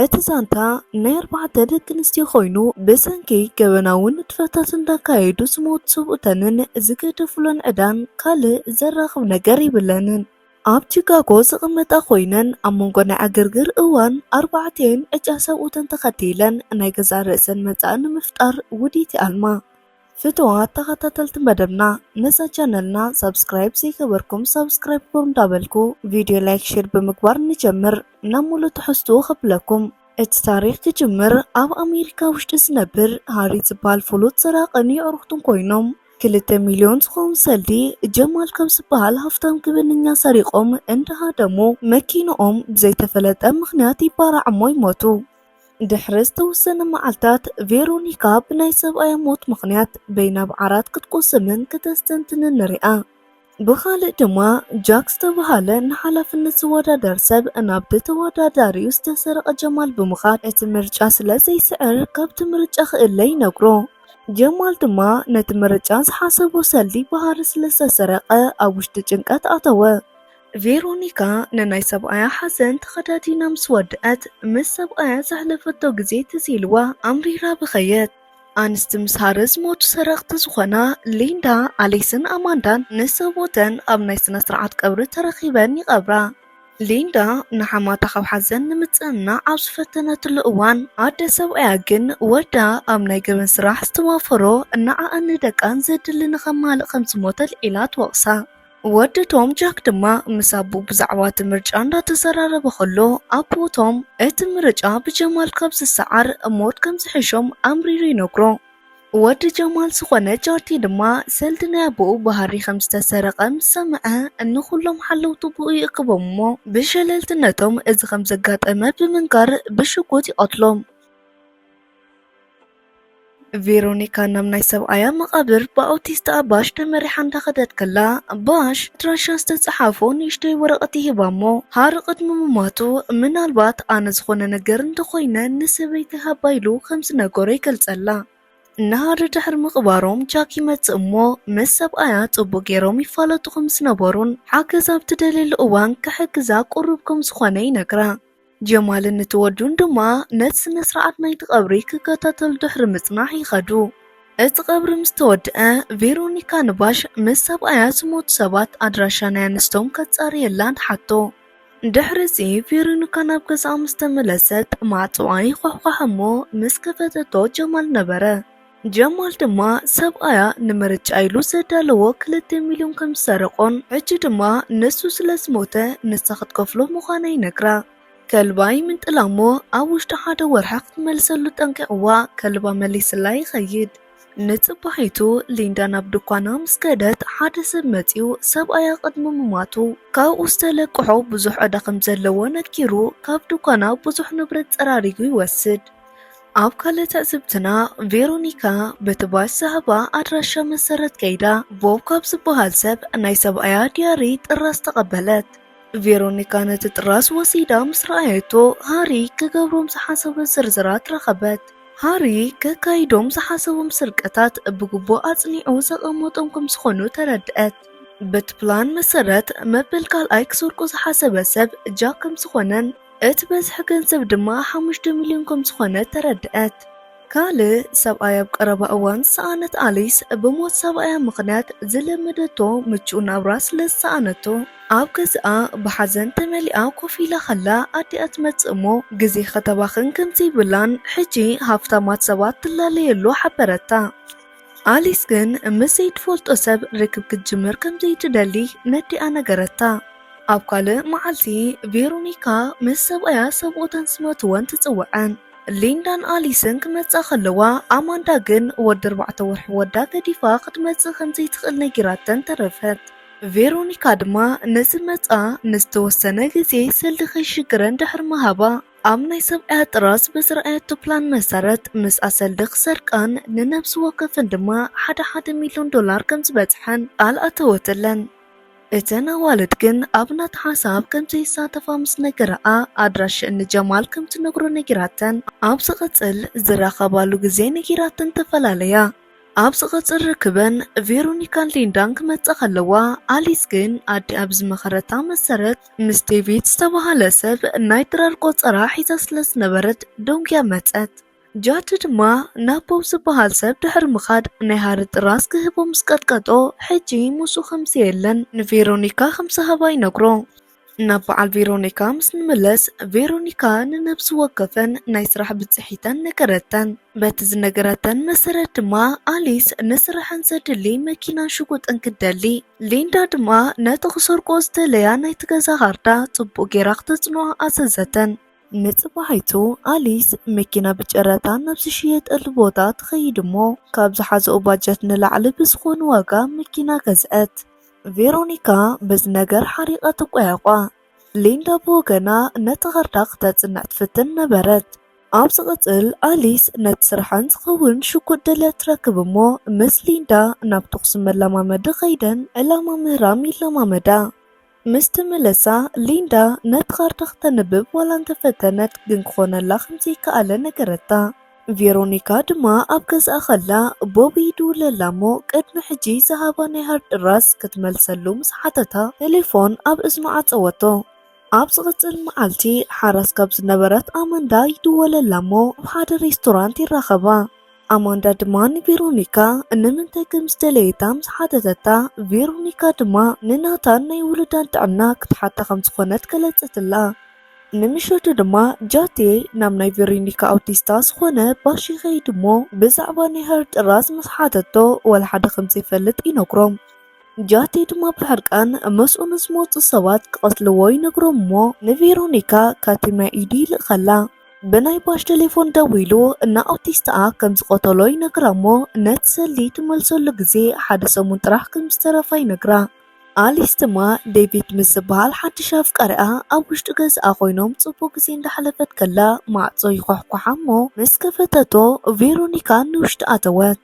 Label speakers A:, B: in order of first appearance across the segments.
A: እቲ ዛንታ ናይ ኣርባዕተ ደቂ ኣንስትዮ ኮይኑ ብሰንኪ ገበናውን ንጥፈታት እንዳካየዱ ዝሞቱ ሰብኡተንን ዝገደፉለን ዕዳን ካልእ ዘራኽብ ነገር የብለንን። ኣብ ቺካጎ ዝቕመጣ ኮይነን ኣብ መንጎ ናይ ዕግርግር እዋን ኣርባዕቲኤን ዕጫ ሰብኡተን ተኸቲለን ናይ ገዛእ ርእሰን መጻኢ ንምፍጣር ውዲት ይኣልማ። ፍትዋት ተኸታተልቲ መደብና ነዛ ቻነልና ሳብስክራይብ ዘይገበርኩም ሳብስክራይብ ግበሩ እንዳበልኩ ቪድዮ ላይክ ሼር ብምግባር ንጀምር ናብ ሙሉእ ትሕዝትኡ ከብለኩም እቲ ታሪክ ክጅምር ኣብ ኣሜሪካ ውሽጢ ዝነብር ሃሪ ዝበሃል ፍሉጥ ሰራቅን የዕሩክቱን ኮይኖም ክልተ ሚልዮን ዝኸውን ሰልዲ ጀማል ካብ ዝበሃል ሃፍታም ግብነኛ ሰሪቆም እንዳሃደሙ መኪንኦም ብዘይተፈለጠ ምክንያት ይባራዕ እሞ ይሞቱ። ድሕሪ ዝተወሰነ መዓልታት ቬሮኒካ ብናይ ሰብኣያ ሞት ምኽንያት በይናብ ዓራት ክትቆስምን ክተስተንትንን ንሪኣ። ብኻልእ ድማ ጃክ ዝተብሃለ ንሓላፍነት ዝወዳደር ሰብ ናብቲ ተወዳዳሪኡ ዝተሰረቐ ጀማል ብምኻድ እቲ ምርጫ ስለ ዘይስዕር ካብቲ ምርጫ ክእለ ይነግሮ። ጀማል ድማ ነቲ ምርጫ ዝሓሰቦ ሰልዲ ባህሪ ስለ ዝተሰረቐ ኣብ ውሽጢ ጭንቀት ኣተወ። ቬሮኒካ ንናይ ሰብኣያ ሓዘን ተኸዳዲና ምስ ወድኣት፣ ምስ ሰብኣያ ዘሕለፈቶ ግዜ ትዝ ኢልዋ ኣምሪራ በኸየት። ኣንስቲ ምስ ሃረ ዝሞቱ ሰረቕቲ ዝኾና ሊንዳ፣ ኣሊስን ኣማንዳን ንሰብኡተን ኣብ ናይ ስነ-ስርዓት ቀብሪ ተረኺበን ይቐብራ። ሊንዳ ንሓማታ ካብ ሓዘን ንምጽንናዕ ኣብ ዝፈተነትሉ እዋን፣ ኣደ ሰብኣያ ግን ወዳ ኣብ ናይ ገበን ስራሕ ዝተዋፈሮ ንዓኣን ንደቃን ዘድሊ ንኸማልእ ከም ዝሞተ ኣልዒላ ትወቕሳ። ወዲ ቶም ጃክ ድማ ምስ ኣቦኡ ብዛዕባ እቲ ምርጫ እንዳተዘራረበ ከሎ ኣቦ ቶም እቲ ምርጫ ብጀማል ካብ ዝሰዓር ሞት ከም ዝሕሾም ኣምሪሩ ይነግሮ። ወዲ ጀማል ዝኾነ ጃርቲ ድማ ሰልዲ ናይ ኣቦኡ ብሃሪ ከም ዝተሰረቐ ምስ ሰምዐ ንኹሎም ሓለውቱ ብኡ ይእክቦም እሞ ብሸለልትነቶም እዚ ከም ዘጋጠመ ብምንጋር ብሽጉጥ ይቐትሎም። ቬሮኒካ ናብ ናይ ሰብኣያ መቓብር ብኣውቲስታ ባሽ ተመሪሓ እንዳኸደት ከላ ባሽ ኣድራሻ ዝተፀሓፎ ንእሽተይ ወረቐት ይህባ እሞ ሃር ቅድሚ ምሟቱ ምናልባት ኣነ ዝኾነ ነገር እንተኾይነ ንሰበይተይ ሃባ ኢሉ ከም ዝነገሮ ይገልፀላ። ንሃር ድሕሪ ምቕባሮም ጃክ ይመፅእ እሞ ምስ ሰብኣያ ፅቡቕ ገይሮም ይፋለጡ ከም ዝነበሩን ሓገዝ ኣብ ትደልየሉ እዋን ክሕግዛ ቅሩብ ከም ዝኾነ ይነግራ። ጀማልን እቲ ወዱን ድማ ነቲ ስነ ስርዓት ናይቲ ቀብሪ ክከታተሉ ድሕሪ ምጽናሕ ይኸዱ። እቲ ቀብሪ ምስ ተወድአ ቬሮኒካ ንባሽ ምስ ሰብኣያ ዝሞቱ ሰባት ኣድራሻ ናይ ኣንስቶም ከጻርየላ ትሓቶ። ድሕሪ እዚ ቬሮኒካ ናብ ገዛኣ ምስ ተመለሰት ማዕጽዋ ይዃሕኳሕ እሞ ምስ ከፈተቶ ጀማል ነበረ። ጀማል ድማ ሰብኣያ ንምርጫ ኢሉ ዘዳለዎ ክልተ ሚልዮን ከም ዝሰረቖን ሕጂ ድማ ንሱ ስለ ዝሞተ ንሳ ክትከፍሎ ምዃና ይነግራ። ከልባ ይምንጥላ እሞ ኣብ ውሽጢ ሓደ ወርሒ ክትመልሰሉ ጠንቂቕዋ ከልባ መሊስላ ይኸይድ። ንጽባሒቱ ሊንዳ ናብ ድኳና ምስ ከደት ሓደ ሰብ መጺኡ ሰብኣያ ቅድሚ ምሟቱ ካብኡ ዝተለቅሖ ብዙሕ ዕዳ ከም ዘለዎ ነጊሩ ካብ ድኳና ብዙሕ ንብረት ጸራሪጉ ይወስድ። ኣብ ካልእ ትዕዝብትና ቬሮኒካ በቲ ባሽ ዝሃባ ኣድራሻ መሰረት ከይዳ ቦብ ካብ ዝበሃል ሰብ ናይ ሰብኣያ ድያሪ ጥራዝ ተቐበለት። ቬሮኒካ ነቲ ጥራዝ ወሲዳ ምስ ረኣየቶ ሃሪ ክገብሮም ዝሓሰቦ ዝርዝራት ረኸበት። ሃሪ ከካይዶም ዝሓሰቦም ስርቀታት ብግቡእ ኣጽኒዑ ዘቐመጦም ከም ዝኾኑ ተረድኣት። በቲ ፕላን መሰረት መበል ካልኣይ ክሰርቆ ዝሓሰበ ሰብ ጃክ ከም ዝኾነን፣ እቲ በዝሒ ገንዘብ ድማ ሓሙሽተ ሚልዮን ከም ዝኾነ ተረድኣት። ካልእ ሰብኣይ ኣብ ቀረባ እዋን ዝሰኣነት ኣሊስ፣ ብሞት ሰብኣያ ምኽንያት ዝለመደቶ ምቹእ ናብራ ስለ ዝሰኣነቶ፣ ኣብ ገዛኣ ብሓዘን ተመሊኣ ኮፍ ኢላ ኸላ ኣዲኣ ትመጽእ እሞ ግዜ ኸተባኽን ከም ዘይብላን ሕጂ ሃፍታማት ሰባት ትላለየሉ ሓበረታ። ኣሊስ ግን ምስ ዘይትፈልጦ ሰብ ርክብ ክትጅምር ከም ዘይትደሊ ነዲኣ ነገረታ። ኣብ ካልእ መዓልቲ ቬሮኒካ ምስ ሰብኣያ ሰብኡተን ስመትወን ትጽውዐን። ሊንዳን ኣሊስን ክመጻ ከለዋ ኣማንዳ ግን ወዲ ኣርባዕተ ወርሒ ወዳ ገዲፋ ክትመጽእ ከም ዘይትኽእል ነጊራተን ተረፈት። ቬሮኒካ ድማ ንዝመጻ ንዝተወሰነ ግዜ ሰልዲ ከይሽግረን ድሕሪ ምሃባ ኣብ ናይ ሰብኣያ ጥራዝ ብዝረኣየቶ ፕላን መሰረት ምስ ኣሰልዲ ክሰርቃን ንነብሲ ወከፈን ድማ ሓደ ሓደ ሚልዮን ዶላር ከም ዝበጽሐን ቃል ኣተወትለን። እተን ኣዋልድ ግን ኣብ ናታ ሓሳብ ከም ዘይሳተፋ ምስ ነገራኣ ኣድራሽእን ንጀማል ከም ትነግሮ ነጊራተን። ኣብ ዝቕጽል ዝራኸባሉ ግዜ ነጊራተን ተፈላለያ። ኣብ ዝቕጽል ርክበን ቬሮኒካን ሊንዳን ክመጽኣ ከለዋ፣ ኣሊስ ግን ኣዲኣ ብዝመኸረታ መሰረት ምስ ዴቪድ ዝተባህለ ሰብ ናይ ድራር ቆጸራ ሒዛ ስለ ዝነበረት ደንጉያ መጸት። ጃድ ድማ ናብ ቦብ ዝበሃል ሰብ ድሕሪ ምኻድ ናይ ሃሪ ጥራዝ ክህቦ ምስ ቀጥቀጦ ሕጂ ምስኡ ከም ዘየለን ንቬሮኒካ ከም ዝሃባ ይነግሮ። ናብ በዓል ቬሮኒካ ምስ ንመለስ ቬሮኒካ ንነብሲ ወከፈን ናይ ስራሕ ብፅሒተን ነገረተን በቲ ዝነገረተን መሰረት ድማ ኣሊስ ንስራሕን ዘድሊ መኪናን ሽጉጥን ክደሊ ሊንዳ ድማ ነቲ ክሰርቆ ዝተለያ ናይቲ ገዛ ካርታ ፅቡቅ ጌራ ክተፅንዖ ኣዘዘተን ንፅባሒቱ ኣሊስ መኪና ብጨረታ ናብ ዝሽየጠሉ ቦታ ትኸይድ እሞ ካብ ዝሓዘኦ ባጀት ንላዕሊ ብዝኾነ ዋጋ መኪና ገዝዐት ቬሮኒካ በዚ ነገር ሓሪቓ ትቋየቋ። ሊንዳ ብወገና ነቲ ካርታ ክተጽንዕ ትፍትን ነበረት። ኣብ ዝቕጽል፣ ኣሊስ ነቲ ስርሐን ዝኸውን ሽጉጥ ደልያ ትረክብ እሞ ምስ ሊንዳ ናብ ተዅሲ መለማመዲ ከይደን ዕላማ ምህራም ይለማመዳ። ምስ ተመለሳ፣ ሊንዳ ነቲ ካርታ ክተንብብ ዋላ እንተ ፈተነት ግን ክዀነላ ከም ዘይከኣለ ነገረታ። ቬሮኒካ ድማ ኣብ ገዝኣ ከላ ቦብ ይድውለላ እሞ ቅድሚ ሕጂ ዝሃባ ናይ ሃርድ ድራስ ክትመልሰሉ ምስ ሓተታ ተሌፎን ኣብ እዝኑ ዓጸወቶ። ኣብ ዝቕጽል መዓልቲ ሓራስ ካብ ዝነበረት ኣመንዳ ይድወለላ እሞ ኣብ ሓደ ሬስቶራንት ይራኸባ። ኣማንዳ ድማ ንቬሮኒካ ንምንታይ ከም ዝደለየታ ምስ ሓተተታ ቬሮኒካ ድማ ንናታን ናይ ውሉዳን ጥዕና ክትሓታ ከም ዝኾነት ገለጸትላ። ንምሸቱ ድማ ጃቴ ናብ ናይ ቬሮኒካ ኣውቲስታ ዝኾነ ባሽ ይኸይድ እሞ ብዛዕባ ናይ ሀር ጥራዝ ምስ ሓተቶ ዋላ ሓደ ከም ዘይፈልጥ ይነግሮም። ጃቴ ድማ ብሕርቃን ምስኡ ንዝመጹ ሰባት ክቐትልዎ ይነግሮም እሞ ንቬሮኒካ ካቲምያ ኢዱ ይልእኸላ። ብናይ ባሽ ቴሌፎን ደዊሉ ንኣውቲስታኣ ከም ዝቐተሎ ይነግራ እሞ ነቲ ሰልዲ ትመልሰሉ ግዜ ሓደ ሰሙን ጥራሕ ከም ዝተረፋ ይነግራ። ኣሊስ ድማ ዴቪድ ምስ ዝበሃል ሓድሽ ኣፍቃሪኣ ኣብ ውሽጢ ገዝኣ ኮይኖም ጽቡቕ ግዜ እንዳሕለፈት ከላ ማዕጾ ይኳሕኳሓ እሞ ምስ ከፈተቶ ቬሮኒካ ንውሽጢ ኣተወት።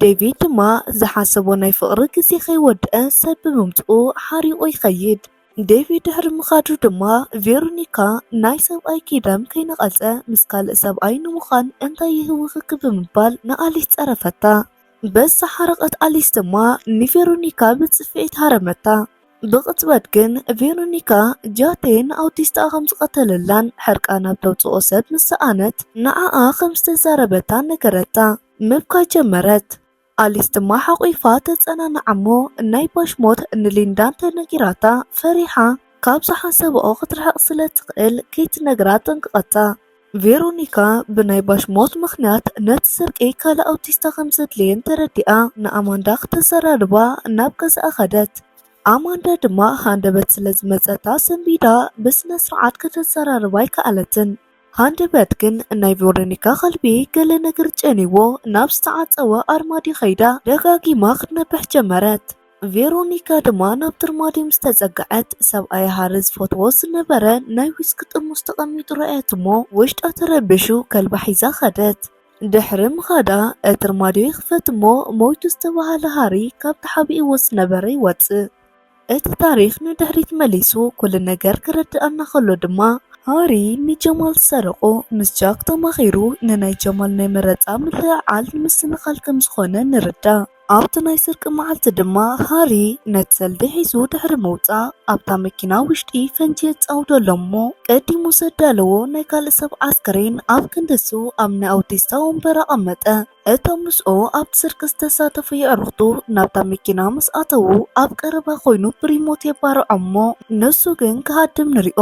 A: ዴቪድ ድማ ዝሓሰቦ ናይ ፍቕሪ ግዜ ከይወድኣ ሰብ ብምምጽኡ ሓሪቑ ይኸይድ። ዴቪድ ድሕሪ ምኻዱ ድማ ቬሮኒካ ናይ ሰብኣይ ኪዳን ከይነቐጸ ምስ ካልእ ሰብኣይ ንምዃን እንታይ ይህውኽኪ ብምባል ንኣሊስ ጸረፈታ። በዝተሓረቐት ኣሊስ ድማ ንቬሮኒካ ብጽፍዒት ሃረመታ። ብቕጽበት ግን ቬሮኒካ ጃቴ ንኣውቲስትኣ ከም ዝቐተለላን ሕርቃና እተውጽኦ ሰብ ምስ ሰኣነት ንዓኣ ከም ዝተዛረበታን ነገረታ። ምብካይ ጀመረት። ኣሊስ ድማ ሓቝፋ ተጸናንዓ እሞ ናይ ባሽ ሞት ንሊንዳ እንተ ነጊራታ ፈሪሓ ካብ ዝሓሰብኦ ክትርሕቕ ስለ እትኽእል ከይትነግራ ኣጠንቀቐታ። ቬሮኒካ ብናይ ባሽ ሞት ምኽንያት ነቲ ስርቂ ካልእ ኣውቲስታ ከም ዘድልየን ተረዲኣ ንኣማንዳ ክተዘራርባ ናብ ገዛኣ ኸደት። ኣማንዳ ድማ ሃንደበት ስለ ዝመጸታ ሰንቢዳ ብስነ ስርዓት ከተዘራርባ ኣይከኣለትን። ሃንደበት ግን ናይ ቬሮኒካ ኸልቢ ገለ ነገር ጨንዩዎ ናብ ዝተዓጸወ ኣርማድዮ ከይዳ ደጋጊማ ክትነብሕ ጀመረት። ቬሮኒካ ድማ ናብ ትርማዲ ምስ ተጸግዐት፣ ሰብኣያ ሃሪ ዝፈትዎ ዝነበረ ናይ ዊስኪ ጥርሙስ ተቐሚጡ ረኣየት'ሞ ውሽጣ ተረቢሹ ከልባ ሒዛ ከደት። ድሕሪ ምኻዳ እትርማዲዮ ይኽፈት'ሞ ሞይቱ ዝተባህለ ሃሪ ካብ ተሓቢእዎ ዝነበረ ይወጽእ። እቲ ታሪኽ ንድሕሪት መሊሱ ኩሉ ነገር ከረድኣና ከሎ ድማ፣ ሃሪ ንጀማል ዝሰረቖ ምስ ጃክ ተማኺሩ ንናይ ጀማል ናይ መረጻ ምልዕዓል ንምስንኻል ከም ዝኾነ ንርዳእ። ኣብቲ ናይ ስርቂ መዓልቲ ድማ ሃሪ ነቲ ሰልዲ ሒዙ ድሕሪ ምውጻእ ኣብታ መኪና ውሽጢ ፈንጂ የጻውደሎም እሞ ቀዲሙ ዘዳለዎ ናይ ካልእ ሰብ ዓስከሬን ኣብ ክንዲ እሱ ኣብ ናይ ኣውቲስታ ወንበር ኣቐመጠ። እቶም ምስኡ ኣብቲ ስርቂ ዝተሳተፉ የዕሩኽቱ ናብታ መኪና ምስ ኣተዉ ኣብ ቀረባ ኮይኑ ብሪሞት የባርዖም እሞ ንሱ ግን ክሃድም ንሪኦ።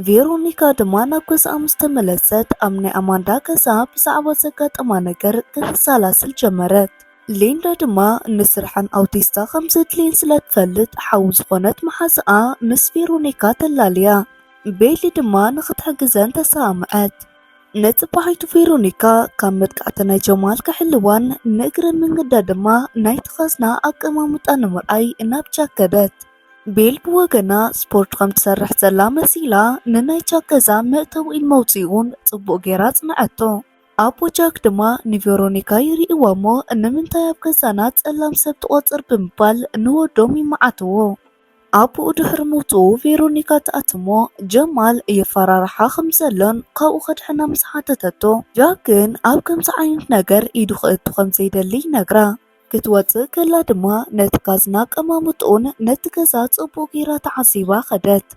A: ቬሮኒካ ድማ ናብ ገዛኣ ምስ ተመለሰት ኣብ ናይ ኣማንዳ ገዛ ብዛዕባ ዘጋጠማ ነገር ከተሰላስል ጀመረት። ሊንዳ ድማ ንስርሓን ኣውቲስታ ከም ዘድልየን ስለ ትፈልጥ ሓው ዝኾነት መሓዝኣ ምስ ቬሮኒካ ተላልያ። ቤሊ ድማ ንኽትሕግዘን ተሰማምዐት። ንጽባሒቱ ቬሮኒካ ካብ መጥቃዕቲ ናይ ጀማል ክሕልዋን ንእግረ መንገዳ ድማ ናይቲ ካዝና ኣቀማምጣ ንምርኣይ ናብ ጃክ ከደት። ቤል ብወገና ስፖርት ከም ትሰርሕ ዘላ መሲላ ንናይ ጃክ ገዛ መእተዊኡን መውፅኢኡን ጽቡቕ ጌራ ኣጽንዐቶ። ኣቦ ጃክ ድማ ንቬሮኒካ ይርእይዋ እሞ ንምንታይ ኣብ ገዛና ጸላም ሰብ ትቖጽር ብምባል ንወዶም ይመዓትዎ። ኣቦኡ ድሕሪ ምውጽኡ ቬሮኒካ ትኣቲ እሞ ጀማል የፈራርሓ ከም ዘሎን ካብኡ ከድሕና ምስ ሓተተቶ ጃክ ግን ኣብ ከምዚ ዓይነት ነገር ኢዱ ከእቱ ከም ዘይደሊ ይነግራ። ክትወጽእ ከላ ድማ ነቲ ካዝና ኣቀማምጥኡን ነቲ ገዛ ጽቡቕ ጌራ ተዓዚባ ከደት።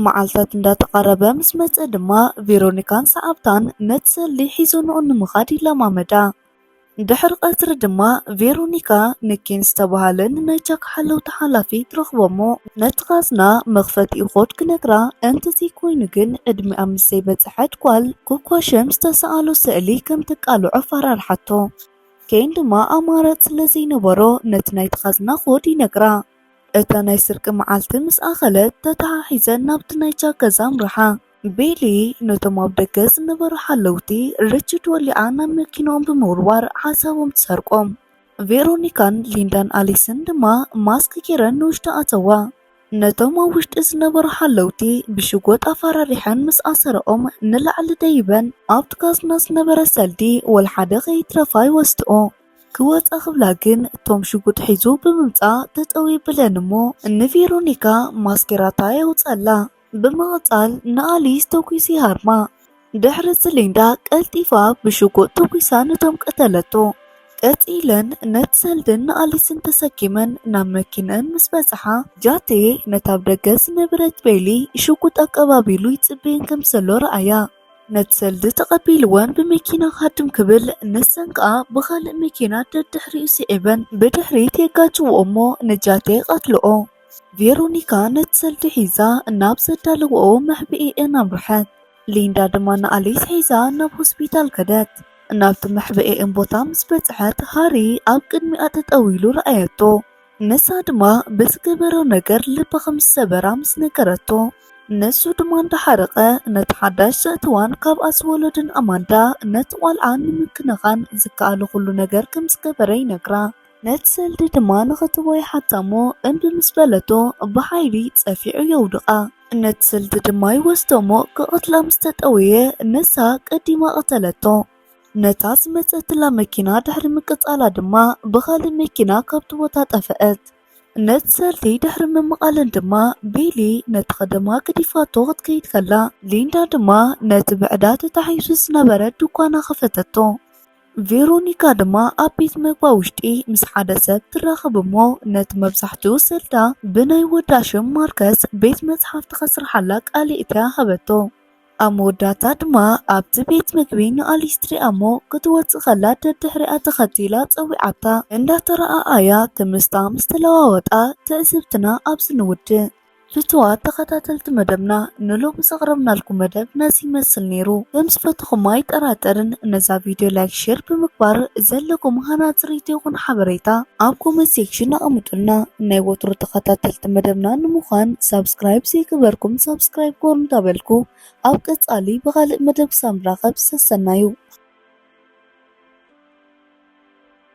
A: መዓልታት እንዳተቓረበ ምስ መጸ ድማ ቬሮኒካን ሰዓብታን ነቲ ሰልዲ ሒዞንኦ ንምኻድ ይለማመዳ። ድሕሪ ቀትሪ ድማ ቬሮኒካ ንኬን ዝተባህለ ንናይ ጃክ ሓለውቲ ሓላፊ ትረኽቦሞ። ነቲ ካዝና መኽፈቲኡ ኮድ ክነግራ እንተዘይኮይኑ ግን ዕድሚኣ ምስ ዘይበጽሐት ጓል ኮኳሸም ዝተሰኣሎ ስእሊ ከም ተቃልዖ ኣፈራርሓቶ። ኬን ድማ ኣማራጽ ስለ ዘይነበሮ ነቲ ናይቲ ካዝና ኮድ ይነግራ። እታ ናይ ስርቂ መዓልቲ ምስ ኣኸለት ተተሓሒዘን ናብቲ ናይ ጃክ ገዛ ኣምርሓ። ቤሊ ነቶም ኣብ ደገ ዝነበሩ ሓለውቲ ሪችድ ወሊዓ ናብ መኪንኦም ብምውርዋር ሓሳቦም ትሰርቆም። ቬሮኒካን ሊንዳን ኣሊስን ድማ ማስክ ጌረን ንውሽጢ ኣተዋ። ነቶም ኣብ ውሽጢ ዝነበሩ ሓለውቲ ብሽጎጥ ኣፈራሪሐን ምስ ኣሰረኦም ንላዕሊ ደይበን ኣብቲ ካዝና ዝነበረ ሰልዲ ወልሓደ ከይትረፋ ይወስድኦ። ክወጻ ክብላ ግን ቶም ሽጉጥ ሒዙ ብምምጻእ ጠጠው የብለን እሞ ንቬሮኒካ ማስኬራታ የውጽኣላ። ብምቕጻል ንኣሊስ ተኲስ ይሃርማ። ድሕሪ እዚ ሊንዳ ቀልጢፋ ብሽጉጥ ተኲሳ ነቶም ቀተለቶ። ቀጺለን ነቲ ሰልድን ንኣሊስን ተሰኪመን ናብ መኪነን ምስ በጽሓ፣ ጃቴ ነታ ኣብ ደገ ዝነበረት ቤሊ ሽጉጥ ኣቀባቢሉ ይጽበየን ከም ዘሎ ረኣያ። ነቲ ሰልዲ ተቐቢልወን ብመኪና ክሃድም ክብል፣ ንሰን ከኣ ብኻልእ መኪና ደድሕሪኡ ስዒበን ብድሕሪት የጋጭውኦ እሞ ንጃቴ ይቐትልኦ። ቬሮኒካ ነቲ ሰልዲ ሒዛ ናብ ዘዳለወኦ መሕብኤኤን ኣምርሐት። ሊንዳ ድማ ንኣሊስ ሒዛ ናብ ሆስፒታል ከደት። ናብቲ መሕብኤኤን ቦታ ምስ በጽሐት ሃሪ ኣብ ቅድሚኣ ጠጠው ኢሉ ረኣየቶ። ንሳ ድማ ብዝገበሮ ነገር ልባ ከም ዝሰበራ ምስ ነገረቶ ንሱ ድማ እንዳሓረቐ ነቲ ሓዳሽ ዘእተዋን ካብኣ ዝወለዱን ኣማንዳ ነቲ ቆልዓ ንምክንኻን ዝከኣሎ ኩሉ ነገር ከም ዝገበረ ይነግራ። ነቲ ሰልዲ ድማ ንኽትቦ ይሓታ እሞ እምቢ ምስ በለቶ ብሓይሊ ጸፊዑ የውድቓ። ነቲ ሰልዲ ድማ ይወስዶ እሞ ክቐትላ ምስ ተጠወየ ንሳ ቀዲማ ቀተለቶ። ነታ ዝመጸትላ መኪና ድሕሪ ምቅጻላ ድማ ብኻልእ መኪና ካብቲ ቦታ ጠፈአት። ነቲ ሰልዲ ድሕሪ ምምቓለን ድማ ቤሊ ነቲ ኸደማ ገዲፋቶ ክትከይድ ከላ ሊንዳ ድማ ነቲ ብዕዳ ተታሒዙ ዝነበረ ድኳና ከፈተቶ። ቬሮኒካ ድማ ኣብ ቤት መግባ ውሽጢ ምስ ሓደ ሰብ ትራኸብ እሞ ነቲ መብዛሕትኡ ሰልዳ ብናይ ወዳ ሽም ማርከስ ቤት መጽሓፍቲ ከስርሓላ ቃል የእትያ ሃበቶ። ኣብ መወዳእታ ድማ ኣብቲ ቤት መግቢ ንኣሊስ ትሪኣ እሞ ክትወጽእ ከላ ደድሕሪኣ ተኸቲላ ጸዊዓታ። እንዳተረኣኣያ ክምስታ ምስ ተለዋወጣ ትዕዝብትና ኣብዚ ንውድእ። ፍቱዋት ተኸታተልቲ መደብና ንሎሚ ዘቕረብናልኩም መደብ ነዚ ይመስል ነይሩ ከም ዝፈትኹም ኣይጠራጠርን ነዛ ቪድዮ ላይክ ሼር ብምግባር ዘለኩም ሃናፂ ርኢቶ ይኹን ሓበሬታ ኣብ ኮመንት ሴክሽን ኣቐምጡልና ናይ ወትሩ ተኸታተልቲ መደብና ንምዃን ሳብስክራይብ ዘይገበርኩም ሳብስክራይብ ጎር እንዳበልኩ ኣብ ቀፃሊ ብኻልእ መደብ ክሳብ ንራኸብ ሰሰናዩ